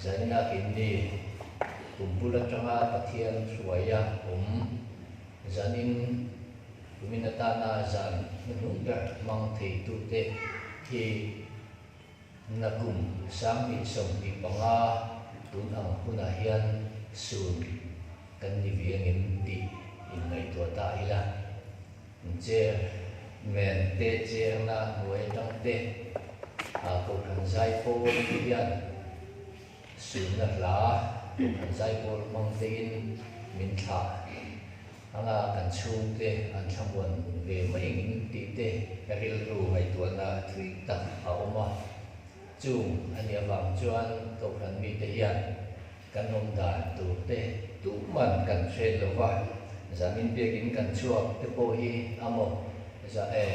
Zainab in ni kum bul atanga Pathian hruaia awm zan in tumin atana zan hnuhnung ber hmang thei tu te hi na kum sang ni sawm tih panga tun ang hunah hian sun kan ni viangin tih in ngaihtuah ta ila. Chairman te chairna hnuai atang te a Kohhran Zaipawr te hian suihna hla Kohhran Zaipawr hmang te in min thlah anga kan chhung te an thlamuan ve mai ngin tih te rilru ngaihtuahna thui tak a awm a. Chung a nih avang chuan Kohhran mite hian. Kan awm dan tur te tum man kan hriat lo va, zamin biakin kan chhuak te pawh hi a maw za e,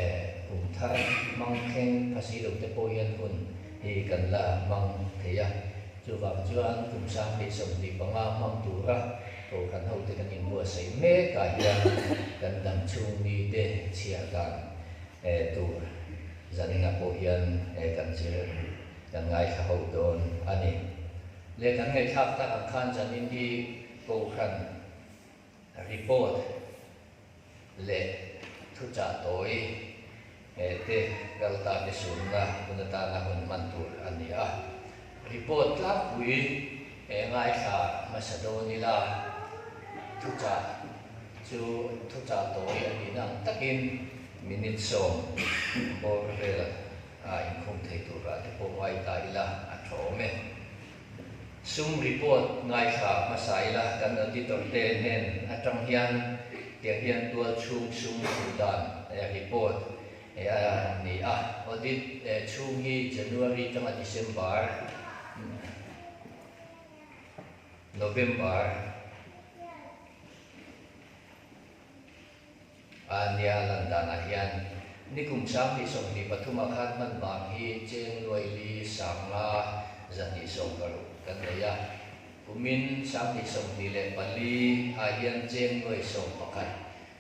kum thar hmang thleng a si lo te pawh hian hun hi kan la hmang thei a, chuvang chuan kum sang leh sawmhnih panga hmang tura kohhran ho te kan inbuatsaih mek ah hian kan dang chhung mi te chhiar dan e tur zaninah pawh hian e kan zir kan ngaithla ho dawn a ni. Leh kan ngaihthlak tak ang khan chanin hi Kohhran report leh thuchah tawi te kal ta te sunna hun atana hun hman tur a ni a. Report tlangpui ngaithla hmasa dawn ila thuchah chu thuchah tawi a nihna ang takin minute sawm bawr vela. A inkhum thei turah te pawh ngai ta ila a thawm e. Sum report ngaithla hmasa ila kan auditor te nen atang hian tiang hian tual chhung sum thu dan report an ni a. Audit chhung hi January tanga December, November. A nia lan danah hian nikum sang tih sawmhnih pathum a khan hman vang hi Chengnuaili Sanga za tih sawmhkarh kan nei a. Kumin sanghnih sawmhnih leh pali ah hian Chengnuai sawm pakhat,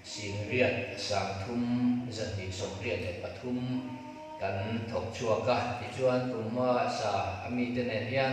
Singriat, Sangthum, zahnih sawmhriat leh pathum kan thawk chhuak a. Tichuan kum a sa a mite nen hian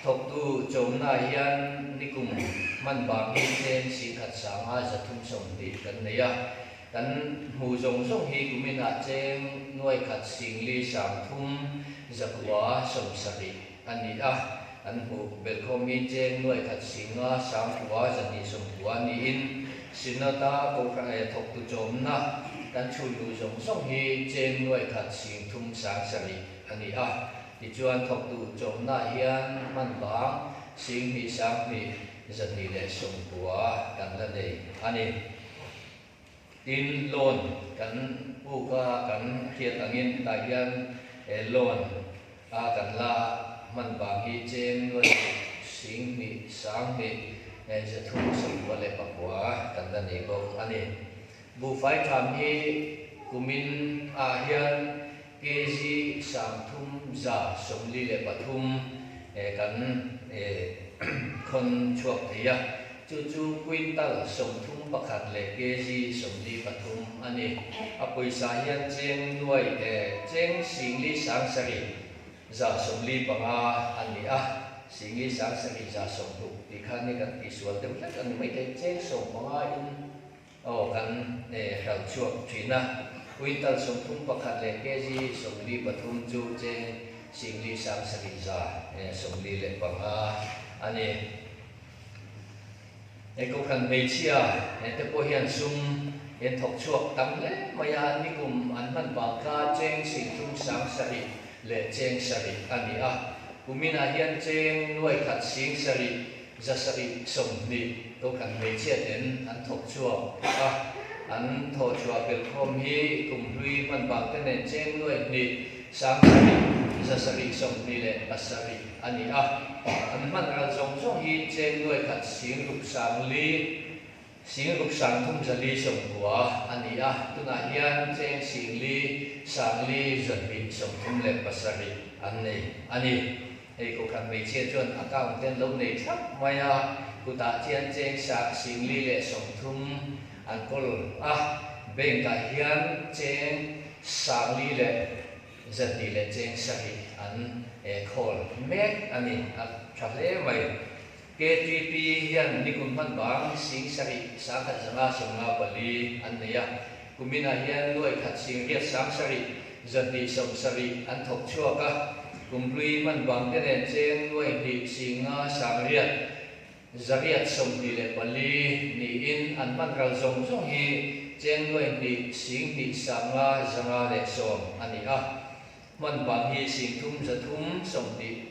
Thawktu chawmnaah hian nikum hman bang hi chen sih khat sanga zathum sawm tih kan nei a, kan hmu zawng zawng hi kuminah cheng nuai khat singli sang thum zakua sawm sarih a ni a, kan hmu belkhawm hi cheng nuai khat singa sang kua zahnih sawm kua niin Synod a Kohhran thawktu chawmna kan chhunluh zawng zawng hi cheng nuai khat sing thum sang sarih a ni a. Tichuan, thawk duh chawmnaah hian hman vang sing hnih sang hnih zahnih leh sawmpua kan la nei a ni. Tin, loan kan puk a, kan hriat angin hetah hian loan a kan la a, hman vang hi cheng nuai duh sing hnih sang hnih zathu sawmpua leh pakua kan la nei bawk a ni. Buhfai tham hi kumin ah hian kg sang thum za sawmli leh pathum kan khawn chhuak thei a, chu chu quintal sawm thum pakhat leh kg sawmli pathum a ni. A pawisa hian cheng nuai cheng singli sang sarih za sawmli panga a ni a, singli sang sarih za sawm hluk tih khan hi kan tihsual deuh hlek a ni maithei, cheng sawm panga in Aw kan eh hralh chhuak thin a. Quintal sawmpum pakhat leh KG sawmli pathum chu che Singli Sangsali za eh sawmli leh panga a ni. He kokhan hmeichhia eh te pawh hian sum in thawk chhuak tam hle mai a, an nikum an hman vang kha Cheng Singthum Sangsari leh Cheng Sari a ni a. Kumin ah hian Cheng Nuaikhat Singsari Zasarih sawmhnih kokhat hmeichhia ten an thawk chhuak a, an thaw chhuah belh khawm hi Kumhlui hmanbangte nen cheng nuai hnih, Sangsarih, Zasarih sawmhnih leh Basarih a ni a. An hman ral zawng zawng hi cheng nuai khat Singruk Sangli, Sing rup sang thum zali sawm kua a ni a, tunah hian Cheng Sing Li, Sang Li, Zawtbin sawm thum leh pasarih an nei a ni. Hei kawhkhat hmeichhia chuan a count te an lo nei thlap mai a, kutah chian Cheng Sang, Sing Li leh sawm thum an kawl a. Bank ah hian Cheng Sang Li leh Zatbi leh Cheng Sarih an call mek a ni, a tha hle mai. KTP hian nikum hman vang sing sarih sang khat zanga sawm nga pali an nei a, kuminah hian nuai khat sing riat sang sarih za hnih sawm sarih an thawk chhuak a, kumhlui hman vang te nen cheng nuai hnih sing nga sang riat za riat sawm hnih leh pali niin an hman ral zawng zawng hi cheng nuai hnih sing hnih sang nga za nga leh sawm a ni a, hman vang hi sing thum za thum sawm hnih.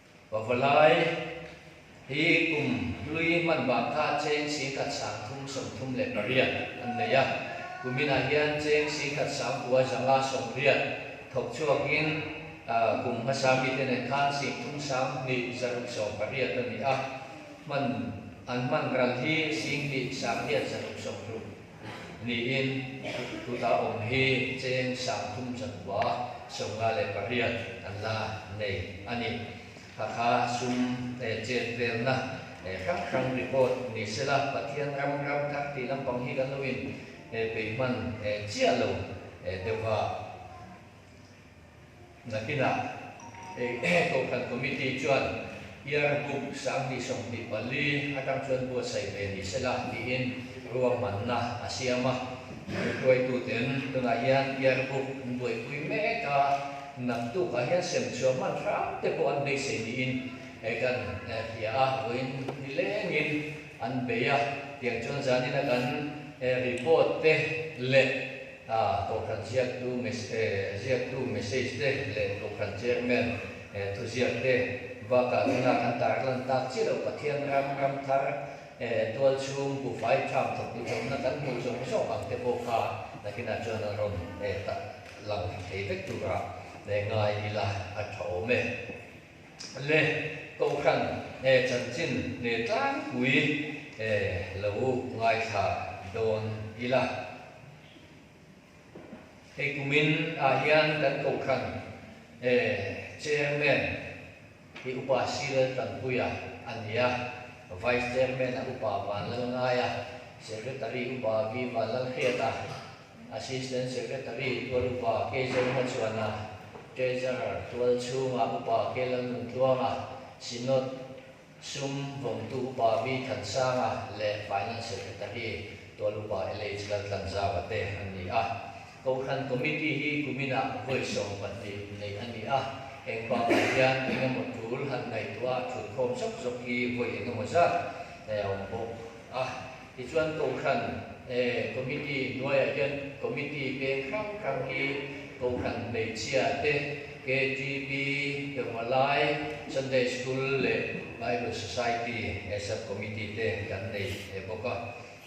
Pavalai hi kum hlui hmanbangkha cheng singkhat sangthum sawmthum leh pariat an nei a. Kuminah hian cheng singkhat sangpua zanga sawmriat thawk chhuakin kum hmasa mite nen khan singthum sanghnih zaruk sawm pariat a ni a. Hman an hman ral hi singhnihsanghiat zaruk sawmruk. Niin, kut a awm hi cheng sang thum chawlhbua sawmnga leh pariat an la nei a ni. Hakha sum chenvelna hrang hrang report ni sela Pathian ram ram kar tih lampang hi kan lo in peihman chiah lo deuh a. Nakinah Kohhran Committee chuan Yargum sanghnih sawmhnih pali atang chuan buatsaih ve ni sela tiin ruahmanna a siam a. Hruaituten tunah hian Yargum an buaipui mek a, naktukah hian semchhuah hmanhrang te pawh an beisei niin kan hria a, vawiin ni lengin an bei a, tiang chuan zanin a kan report te leh. A, Tawlhran ziaktu message eh ziaktu message te leh tawlhran chairman eh thuziak te bakah chuan a kan tar lan tak chiah lo. Pathian ram, ramthar eh tualchhung buhfai tham thawk duhchawpna kan hmuh zawng zawng ang te pawh kha nakinah chuan a rawn eh tah lang thei vek turah eh ngai ila a tha awm e. le Kohhran e chanchin hne tlangpui e lo ngaithla dawn ila. Hei kum in ah hian kan Kohhran e Chairman hi Upa Sri Laltanpuia a nia, Vice Chairman a Upa Vanlalngaia, Secretary Upa V Vanlalhriata, Assistant Secretary Tual Upa Kei Zawng Hmachuana, Treasurer Tual Chhunga Upa Kei Lalnuntluanga, Synod Sum Vawngtu Upa Vi Than Sanga leh Finance Secretary Tual Upa LH Laltlanzava te an ni a. Kohhran Committee hi kumina vawi sawm pahnih neih a ni a, eng bakah hian eng emaw tul han ngaihtuah thutkhawm zawk zawk hi vawi engemaw zat nei a awm bawk a. Tichuan Kohhran Committee hnuaiah hian Committee peng hrang hrang hi Kohhran hmeichhia te, KGB, Permalai, Sunday School leh Bible Society Sub Committee te kan nei bawk a.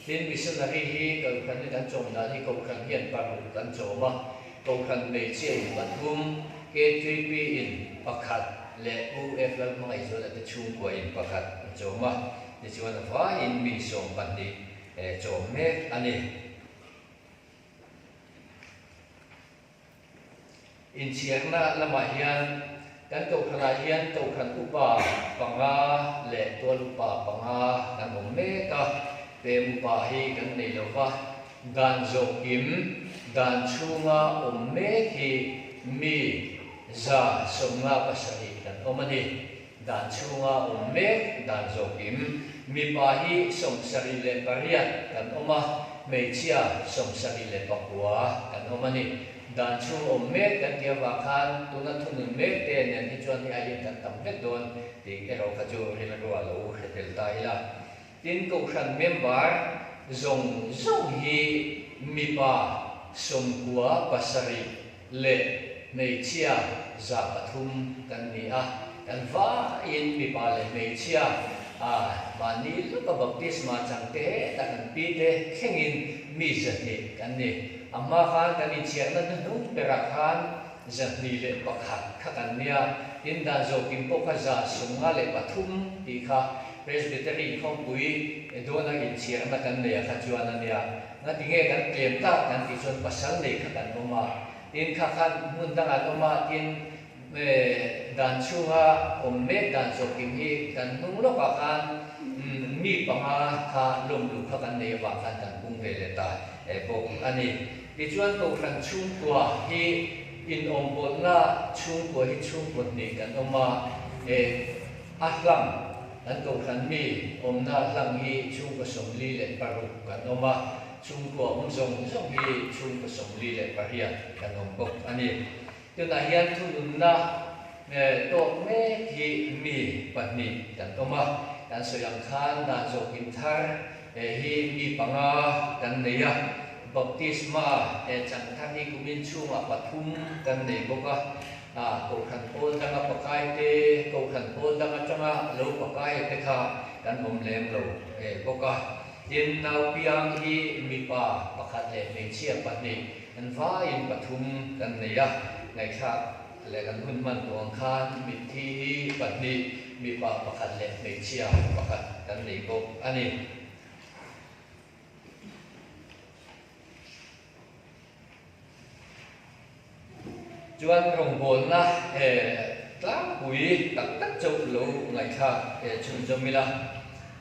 Tin, Missionary hi Kohhran-i kan chawm dan hi Kohhran hian paruk kan chawm a, Kohhran hmeichhiain pathum, KGB-in pakhat leh UF lalhmangaihzuala te chhungkuain pakhat a chawm a. Tichuan a vaiin mi sawm pahnih chawm mek a ni. Inchhiakna lamah hian kan tokhranah hian tokhran upa panga leh tual upa panga kan awm mek a, pem upa hi kan nei lo va, dan zawk in dan chhunga awm mek hi mi za sawmnga pasarih kan awm a ni. Dan chhunga awm mek dan zawkin mipa hi sawmsarih leh pariat kan awm a, hmeichhia sawmsarih leh pakua kan awm a ni. Dan chhung awm mek kan ti avang khan tuna thunun mek te nen hi chuan hi aiin kan tam vek dawn tih erawh kha chu rilruah lo hre tel ta ila. Tin, Kohhran member zawng zawng hi mipa sawmkua pasarih leh hmeichhia za pathum kan ni a, kan vaiin mipa leh hmeichhia mahni lawka baptisma changte he ta kan pi te thlengin mi zahnih kan ni. Amah khan kan inchhiakna hnuhnung berah khan, Zahnih leh pakhat kha kan nia, tin dan zawkin pawh kha za sunga leh pathum tih kha Presbytery inkhawmpui Edona inchhiar ema kan neia kha chuan a nia. Ngatinge kan tlem ta kan tih chuan pasal nei kha kan awm a, tin kha khan hmun dangah an awm a, tin dan chhunga awm mek dan zawkin hi kan hnung lawkah khan mi panga kha lawmlu kha kan nei avang khan kan pung ve leh ta bawk a ni. Tichuan Tohran chhungkuah hi inawmpawlhna chhungkuah hi chhungkuah hnih kan awm a, eh, a hlang, kan Tohran mi awmna hlang hi chhungkaw sawmli leh paruk kan awm a, chhungkuah awm zawng zawng hi chhungkaw sawmli leh pariat kan awm bawk a ni. Tunah hian thununna tawk mek hi mi pahnih kan awm a, kan sawi ang khan dan zawk in thar hi mi panga kan nei a, Baptisma chang thar hi kumin chhungah pathum kan nei bawk a, Kohhran pawl danga pakai te, Kohhran pawl dang atanga lo pakai te kha kan awm lem lo bawk a, tin naupiang hi mipa pakhat leh hmeichhia pahnih Kan vaiin pathum kan nei a, ngaihthlak leh kan hun hman tuang khan mitthi hi pahnih, mipa pakhat leh hmeichhia pakhat kan nei bawk a ni. Chuan rawngbawlna he tlangpui tak tak chauh lo ngaihthlak he chhunzawm ila.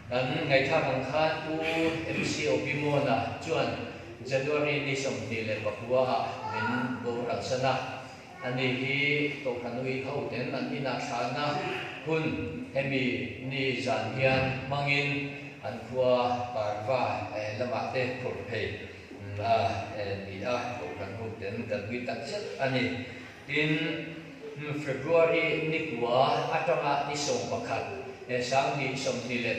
Kan ngaihthlak ang khan u MC Obimona chuan January ni sawmpahnih leh pakua ah min boral san a. Ani hi Tohran ui ho ten an inah thlahna hun hemi ni zan hian hmangin an khua Parva lamah te phurh phei a ni a, Tohran ho ten kan ui tak zet a ni. Tin, February ni kua atanga ni sawm pakhat sang ni sawmhnih leh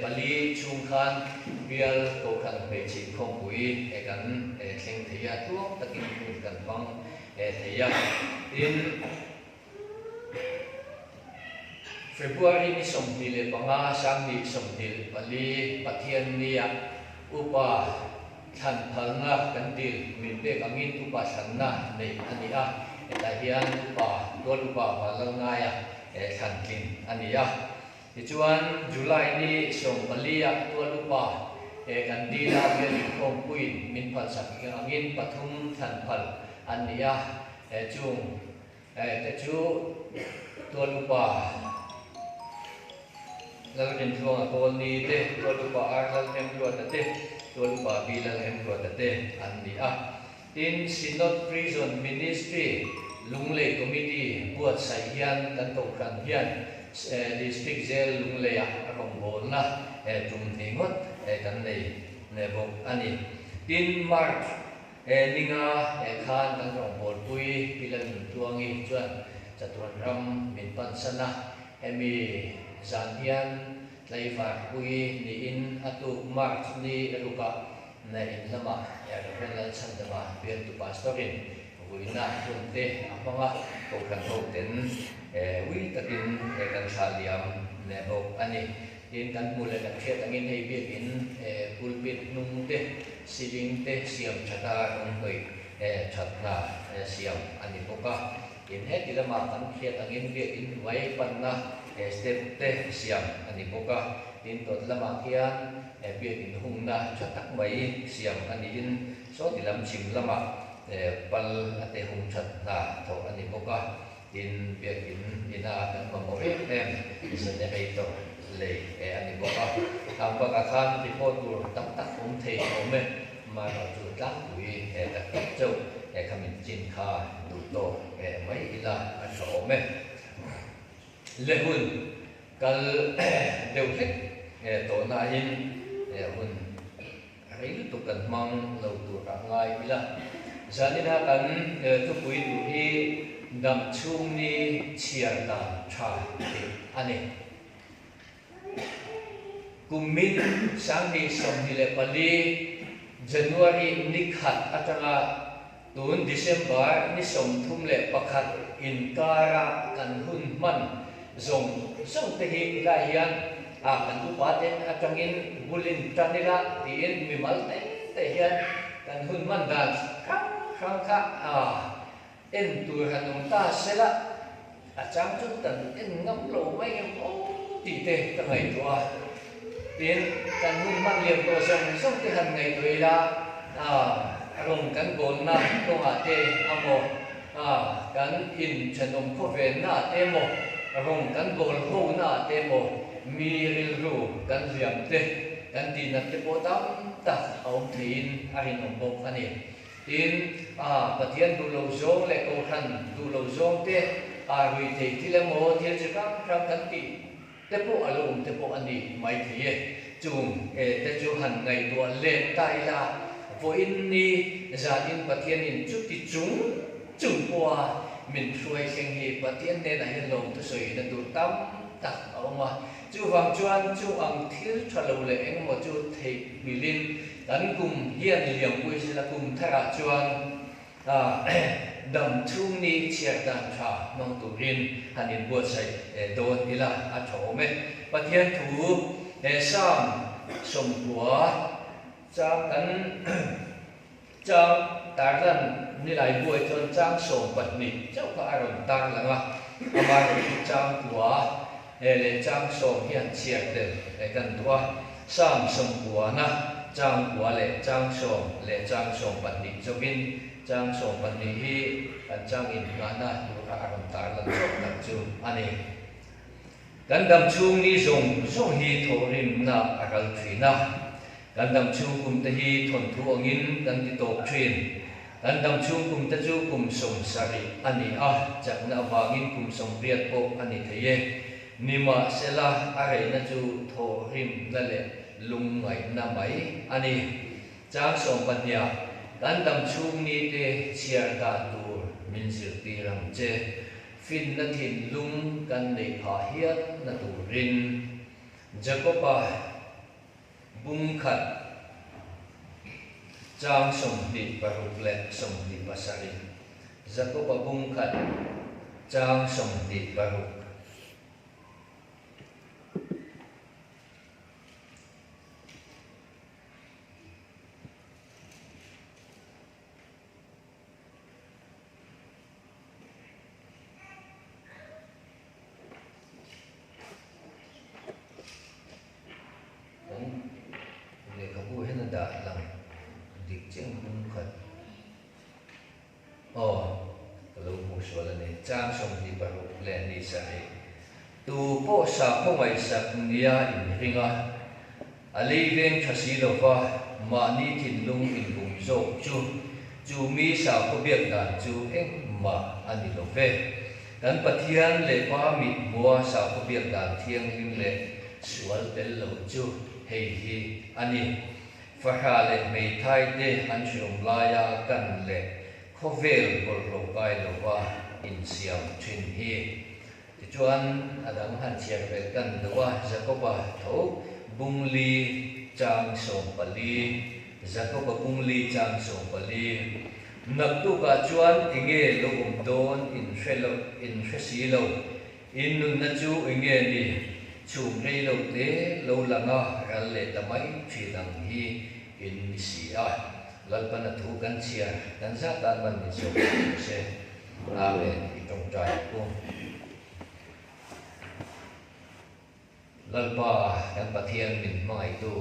pali chhung khan bial kohhran hmeichhih khawpui kan thleng thei a, hluak takin hmun kan hmang thei a. Tin, February ni sawmhnih leh panga sang ni sawmhnih leh pali Pathian nia upa, Thlanpharna kan dil hmin pek angin upa sanna nei a ni a, hetah hian upa tual upa val lo naia thlan tlin a ni a. Tichuan, July ni sawm palia tual upa kan dil a, hmel inkhawmpuiin min phalsak angin pathum thlanphal an ni a, chung Heta chu tuan upa Lalhemtluanga kawlni te, tuan upa Ar Lalhemtluata te, tuan upa Pi Lalhemtluata te an ni a. Tin, Synod Prison Ministry Lunglei Committee buatsaih hian kan Kohhran hian District Jail Lungleia a rawngbawlna tum hnih ngawt kan nei bawk a ni. Tin, March. He ninga eh khan kan rawn kawlpui ila nun tuangi chuan chatuan ram min pansana hemi zan hian Tleivar Puii niin a tuk March ni ruka in lama Rev. Lalchhan Dama bialtu pastor in vuina hun te a hmanga kohhran ho ten ui takin kan thlahliam leh bawk a ni. Tin, kan hmuh leh kan hriat angin hei biakin pulpit hnung te, ceiling te siam that a rawnghnawih that hna siam a ni bawk a. Tin, heti lamah kan hriat angin biakin hnuai panna step te siam a ni bawk a. Tin, dawt lamah khian biakin hungna tha tak mai siam a niin sawti lam chhim lamah pal te hung that hna thawh a ni bawk a. In biakin ina ah kan mamawh riat em? Isa nen ei tawh lei e a ni bawk a. Tlang bakah khan report tur tam tak awm thei a awm e. Man ah chu tlangpui e tak tak chauh e kha min chin kha duh tawh e mai ila a hre awm e. Le hun kal deuh hlek e tawh nain hun. Rei lutuk kan hmang lo tur a ngai ila. Zalina kan tupui tur hi dam chhungni chhiar dan tha tih a ni. Kum min sanghnih sawmhnih leh pali, January, ni khat atanga, Tun December ni sawmthum leh pakhat inkara kan hun hman zawng zawng te hi helai hian a kan upa ten atangin bulin tan ila tiin mi mal te te hian kan hun hman dan hrang hrang kha a en tur han awm ta sela. A chang chu kan en ngam lo mai em aw tih te ka ngaihtuah a, tin kan hun hman liam tawh zawng zawng te han ngaihtuah ila a rawn kan gawnna tawngah te amaw a kan in thenawm khawvenna te maw rawn kan gawl hona te maw mi rilru kan hliam te kan tihnat te pawh tam tak a awm theihin a rinawm bawk a ni. Tin, a Pathian duh lo zawng leh Kohhran duh lo zawng te aa rui thei thil emaw thil chi hrang hrang kan tih te pawh a lo awm te pawh a ni mai thei e. Chung e te chu han ngaihtuah lem ta ila, vawiin ni zan in Pathianin chuti chung chung pawh a min hruai thleng hi Pathian hnenah hian lawmthu sawi in a duh tam tak a awm a. Chuvang chuan chung ang thil tha lo leh engemaw chu theihhmilhin kan kum hian liam pawh isin a kum tharah chuan dam chhung ni chhiar dan tha hmang turin han inbuatsaih dawn ila a thawm e. Pathian thu Salm sawmkua chang kan. Chang Tarlan nilai buai chuan chang sawm pahnih chauh kha a rawn tar lang a, amah erawh chu chang kua e leh chang sawm hi an chhiar tel e kan duh a, Sam Sawmkuana chang kua leh chang sawm leh chang sawm pahnih chauhin chang sawm pahnih hi kan chang innghahna tur kha a rawn tar lan zawk tak chu a ni. Kan dam chhung ni zawng zawng hi thawhrimnak a ral thin a, kan dam chhung kum te hi thawn thu angin kan ti tawp thin. Kan dam chhung kum te chu kum sawm sarih a ni a, chakna avangin kum sawm riat pawh a ni thei e. Nimahsela, a reihna chu thawhrimna leh lungngaihna mai a ni. Chang sawm pahniah, kan dam chhung ni te chhiar dan tur min zirtir ang che. Finna thinlung kan nei phah hiatna turin Jakoba bung khat chang sawmhnih paruk leh sawmhnih pasarih, Jakoba bung khat chang sawmhnih paruk, lehkhabu hian a dah a lang dik chiang hmun khat aw ka lo hmuh sual a ni chang sawm hnih paruk leh hnih sari. Tu pawh sakhaw ngaihsak nia in hring a, a lei veng tha si lo va, mahni thinlung in bum zawk chu chu mi sakhaw biak dan chu engmah a ni lo ve. Kan Pathian leh Pa mithmua sakhaw biak dan thianghlim leh sual tel lo chu hei hi a ni, fahra leh hmeithai te an hreawm laia kan leh khawvel bawrhhlawh kai lova insiam thin hi. Tichuan a dang han chhiar fel tan deuh a, Jakoba tho bung li chang sawm pali, Jakoba bung li chang sawm pali. Naktuk ah chuan i nge lo awm dawn in hre lo in hre si lo, in nunna chu i nge ni chhum rei lo te lo lang a, ral leh ta mai thin ang hi in ni si a, Lalpana thu kan chhiar kan zat tan man ni zawk si maw se. Khawna leh i tawngtai u. Lalpa kan Pathian min hmangaitu,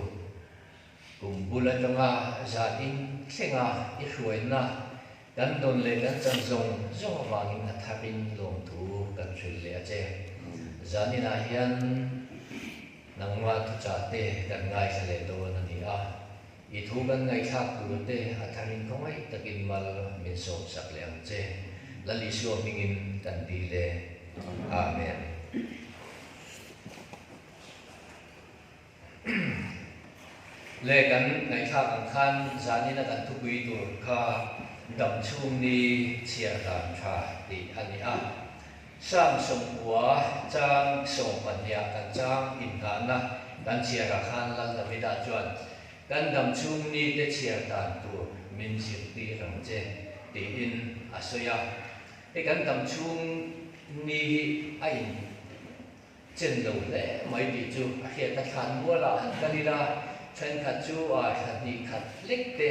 kum bul atanga zan in thlenga i hruaina kan dawn leh kan chan zawng zawng avangin a thak in lawm thu kan hrilh leh a che. Zan inah hian nangma thuchah te kan ngaithla leh dawn a ni a. I thu kan ngaihthlak tur te a tharin khawngaih takin mal min sawmsak leh ang che. Lal Isua hmingin kan ti le. Amen. Le kan ngaihthlak ang khan zanin a kan thupui tur kha damchhungni chhiardan tha tih a ni a. Chang sawmhua, chang sawm pahniha kan chang inhnahna kan chhiarah khan Lal Davida chuan, Kan dam chhung mite chhiar dan tur min zirti reng che, tiin a sawi a. Hei kan dam chhung mi hi a in. Chen lo hle mai tih chu a hriat a thlan mualah an kal ila, thenkhat chu aa thla hnih khat hlek te.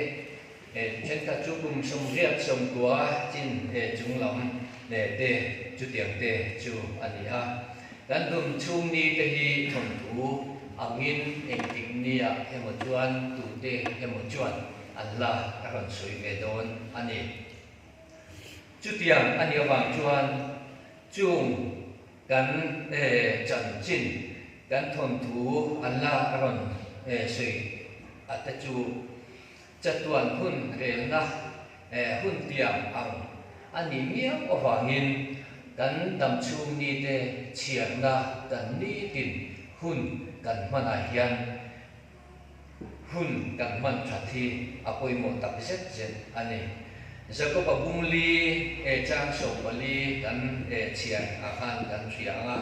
Thenkhat chu kum sawmriat sawmtua chin chung lam te chutiang te chu a ni a. Kan dum chhung ni te hi thawnthu angin engtik ni ah emaw chuan tute emaw chuan an la a rawn sawi ve dawn a ni. Chutiang a nih avang chuan chung. Kan chanchin kan thawnthu an la rawn sawi a te chu chatuan hun relna hun tiang ang a ni miau avangin kan damchhung mite chhiarna kan ni tin hun kan hmanah hian hun kan hman that hi a pawimawh tak zet zet a ni. Jakob a bung li e chang so pali kan e chhiar a khan kan hria ang a.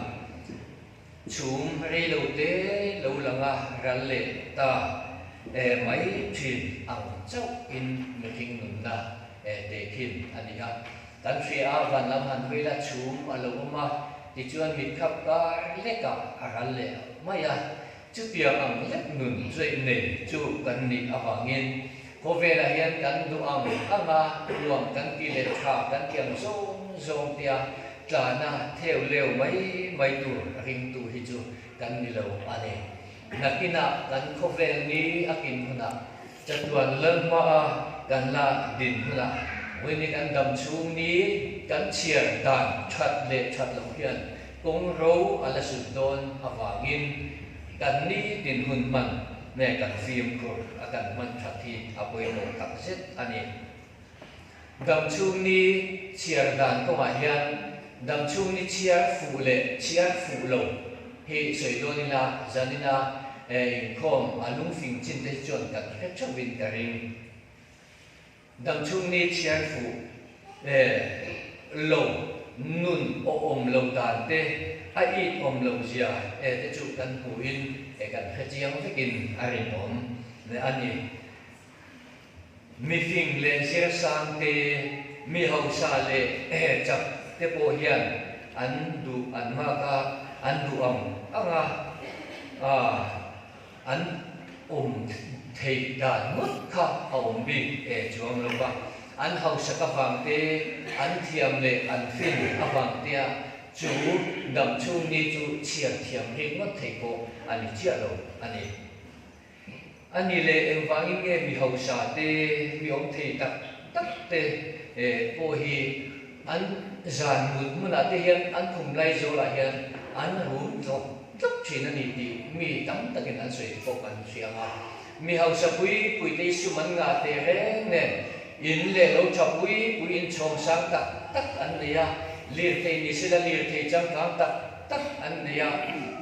Chhum rei lo te lo lang a ral leh ta e mai thin ang chauh in mihring nunna e te khin a ni a. Kan hria a van lam han hawi la chhum a lo awm a tichuan mitkhap kar lekah a ral leh mai a. Chutiang ang lek nun zui nei chu kan nih avangin khaw velah hian kan duh ang ang a, nuam kan ti leh tha kan ti ang zawng zawng tia tlana theu leu mai mai tur ringtu hi chu kan ni lo a ni. Hnakinah kan khawvel ni akin hunah. Chatuan lalhmaa kan la din hunah Winnie kan dam chhungni kan chhiar dan that leh that loh hian kawng ro a la sut dawn avangin kan ni din hun hman nge kan fimkhur a kan hman that hi a pawimawh tak zet a ni. Dam chhung ni chhiar dan kawngah hian dam chhung ni chhiar fuh leh chhiar fuh lo hi sawi dawn ila Janina inkhawm a lung fing chin te hi chuan kan ti fek theuh in ka ring. Dam chhung ni chhiar fuh lo nun awm lo dan te, a it awm lo zia te chu kan hmuh in kan hre chiang vek in a rinawm a ni. Mifing leh zirsangte, mi hausa leh chap te pawh hian an duh an nghak a, an duh ang ang a, an awm thei dan ngawt kha a awm bik eh chuang lo va, an hausak avangte, an thiam leh an fin avangtea chu damchhungni chu chhiar thiam ngheng ngawt thei pawh a ni chiah lo a ni. A ni le, engvangin nge mi hausa te, mi awm thei tak tak te pawh hi an zan mut hmunah te hian an khum lai zawlah hian an rum tlawk tlawk thin a ni tih mi tam takin an sawi te pawh kan hria ang a. Mi hausa pui pui te i sum an ngah teh reng nen in leh lo tha pui pui in chhawm sang tak tak an nei a. Lirthei ni sela lirthei changkang tak. tak an nei a,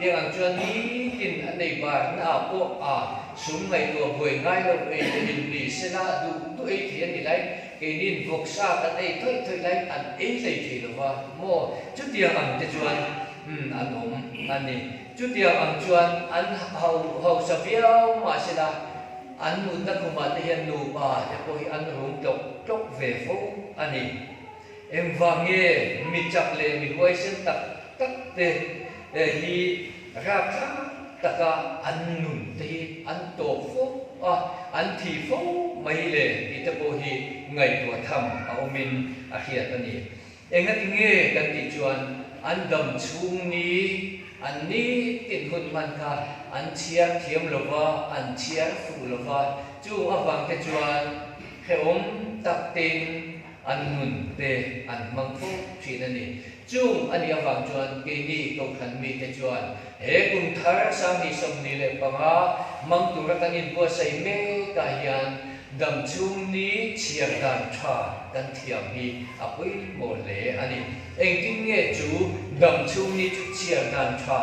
tiang ang chuan nitin a nei bar na ah pawh a sum ngaihtuah buai ngai lo ei lo in ni se la duh duh ei thei a ni lai, keinin vawk sa kan ei thawih thawih lai in an ei hlei thei lo va maw chutiang ang te chuan umm an awm a ni chutiang ang chuan an hausa viau mah se la an mutna khumah te hian nupa te pawh hi an rum tlawk tlawk ve fo a ni. Engvah nge mi chak leh mi huaisen tak tak te hi rap tha tak a an nun te hi an tawp fo a, an thi fo mai le tih te pawh hi ngaihtuah tham a awm in a hriat a ni. Engati nge kan tih chuan an dam chhung ni an ni tin hun hman kha an chhiar thiam lo va, an chhiar fuh lo va, chung avang te chuan hrehawm tak te in, An nun te an hmang fawp thin a ni. Chung a nih avang chuan keini kohhran mite chuan he kum thar sang ni sawm ni leh panga mang tura kan inbuatsaih mek ah hian dam chhungni chhiar dan tha kan thiam hi a pawimawh hle a ni. Engtin nge chu dam chhungni chhiar dan tha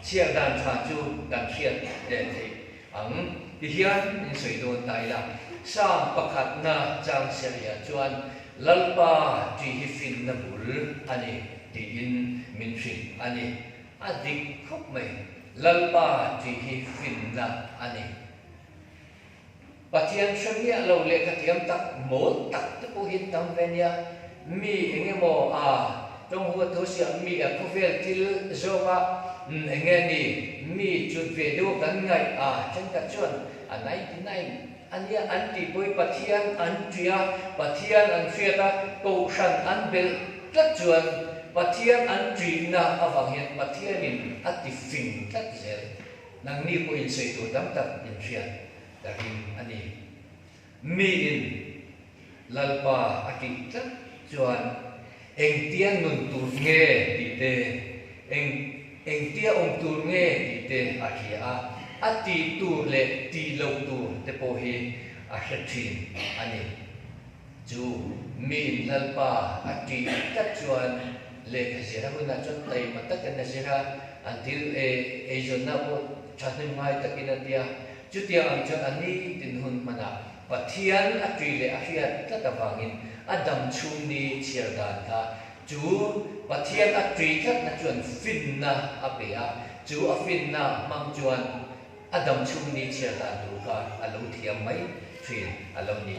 chhiar dan tha chu kan hriat theih? Ang, ti hian in sawi dawn ta ila, Psalm pakhatna chang serhia chuan Lalpa ṭi hi finna bul a ni tiin min hrilh a ni. A dik khawp mai. Lalpa ṭi hi finna a ni. Pathian hremiah lo leh khathiam tak mawl tak te pawhin tam ve nia. Mi eng emaw a tawng huat tho si ang mi a khawvel thil zawng a eng nge ni? Mi chut ve deuh kan ngaih a thenkhat chuan a ninety nine a nia an tih pawh hi Pathian an tui a Pathian an hriat a Kohhran an belh tlat chuan Pathian an tuina avang hian Pathian in a ti fing tlat zel nangni pawh insawi tur tam tak in hriat ka ring a ni. Mi in Lalpa a tih tlat chuan engtia nun tur nge tih te, eng engtia awm tur nge tih te a hria a, a ti tur leh ti lo tur te pawh hi a hre thin a ni. Chu Mi in Lalpa a tih tlat chuan lehkha zirah hunah chuan taima takin a zir a, an thil ei eizawnna pawh thahnem ngai takin a tia. Chutia ang chuan a ni tin hun hman a, Pathian a tui leh a hriat tlat avangin a dam chhung ni chhiar dan kha chu Pathian a tui tlatna chuan finna a pe a, chu a finna hmang chuan a dam chhung ni chhiar dan tur kha a lo thiam mai thin a lo ni.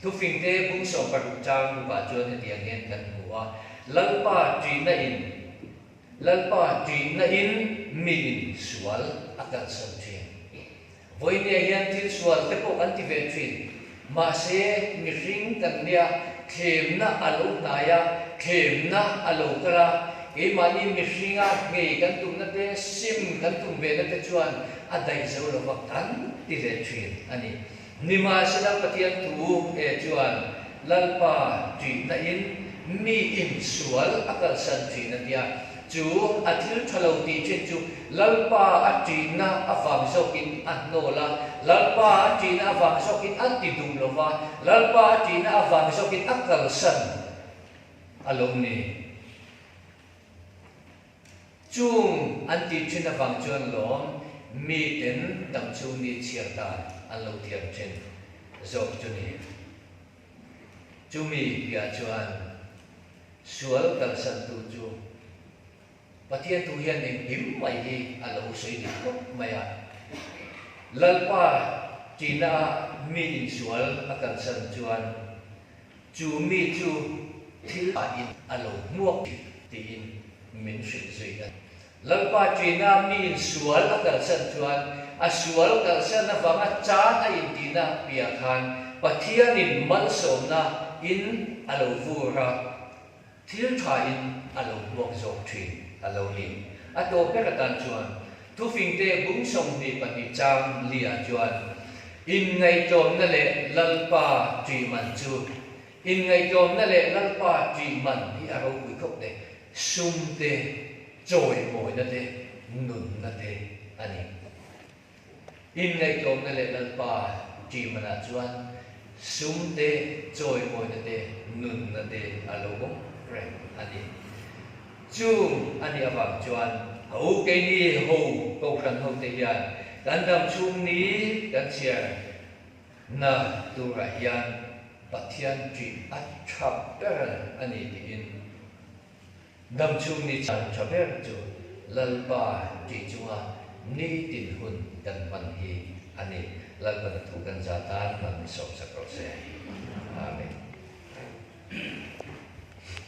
Thufingte bung sawm paruk chang bukah chuan hetiang hian kan hmu a, Lalpa tuihna in, Lalpa ṭihna in mi in sual a kalsan ṭhin. Vawinia hian thil sual te pawh kan ti ve ṭhin. Mahse, mihring kan nia, thlemna a lo hnai a, thlemna a lo kal a. Keimahni mihringa ngei kan tumna te, sim kan tum ve na te chuan a daih zo lo vang kan ti leh ṭhin a ni. Nimahsela Pathian thu e chuan Lalpa ṭihna in mi in sual a kalsan ṭhin a tia. Chu a thil ṭha lo tih ṭhin chu Lalpa a ṭihna avang zawk in a hnawl a, Lalpa a ṭihna avang zawk in a ti duh lo va, Lalpa a ṭihna avang zawk in a kalsan a lo ni. Chung an ti thin avang chuan lawm miten dang chhung ni chhiar dan an lo thiam thin zawk chu ni. Chumi piah chuan sual kalsantu chu Pathian thu hian eng hlim mai hi a lo sawi leh khawp mai a. Lalpa tina a mi insual a kalsan chuan. Chu mi chu thil lah in a lo hmuak thin tiin min hrilh zui a ni. Lalpa Tina mi in sual a kalsan chuan a sual kalsan avanga chan a intina piah khan Pathianin malsawmna in a lo vur a. Thil tha in a lo hmuak zawk thin a lo ni. A tawp ber atan chuan Thufingte bum sawmhnih pahnih chang Lia chuan In ngaihtlawmna leh Lalpa tui man chu In ngaihtlawmna leh Lalpa tui man hi a ropui khawp le sum te, chawimawina te, nunna te a ni. In ngaihtuahna leh lalpa tih manah chuan sumte chawimawina te nunna te a lo awm reng a ni. Chu a nih avang chuan ka u keini ho kohhran hote hian kan dam chhung ni kan chhiar na turah hian Pathian ṭih a ṭhap ber a ni tiin Dam chhung ni chang tha ber chu Lalpa tih chunga ni dinhmun kan hman hi a ni. Lalpa na thu kan za tan hman ni sawmsak rawh se. Amen.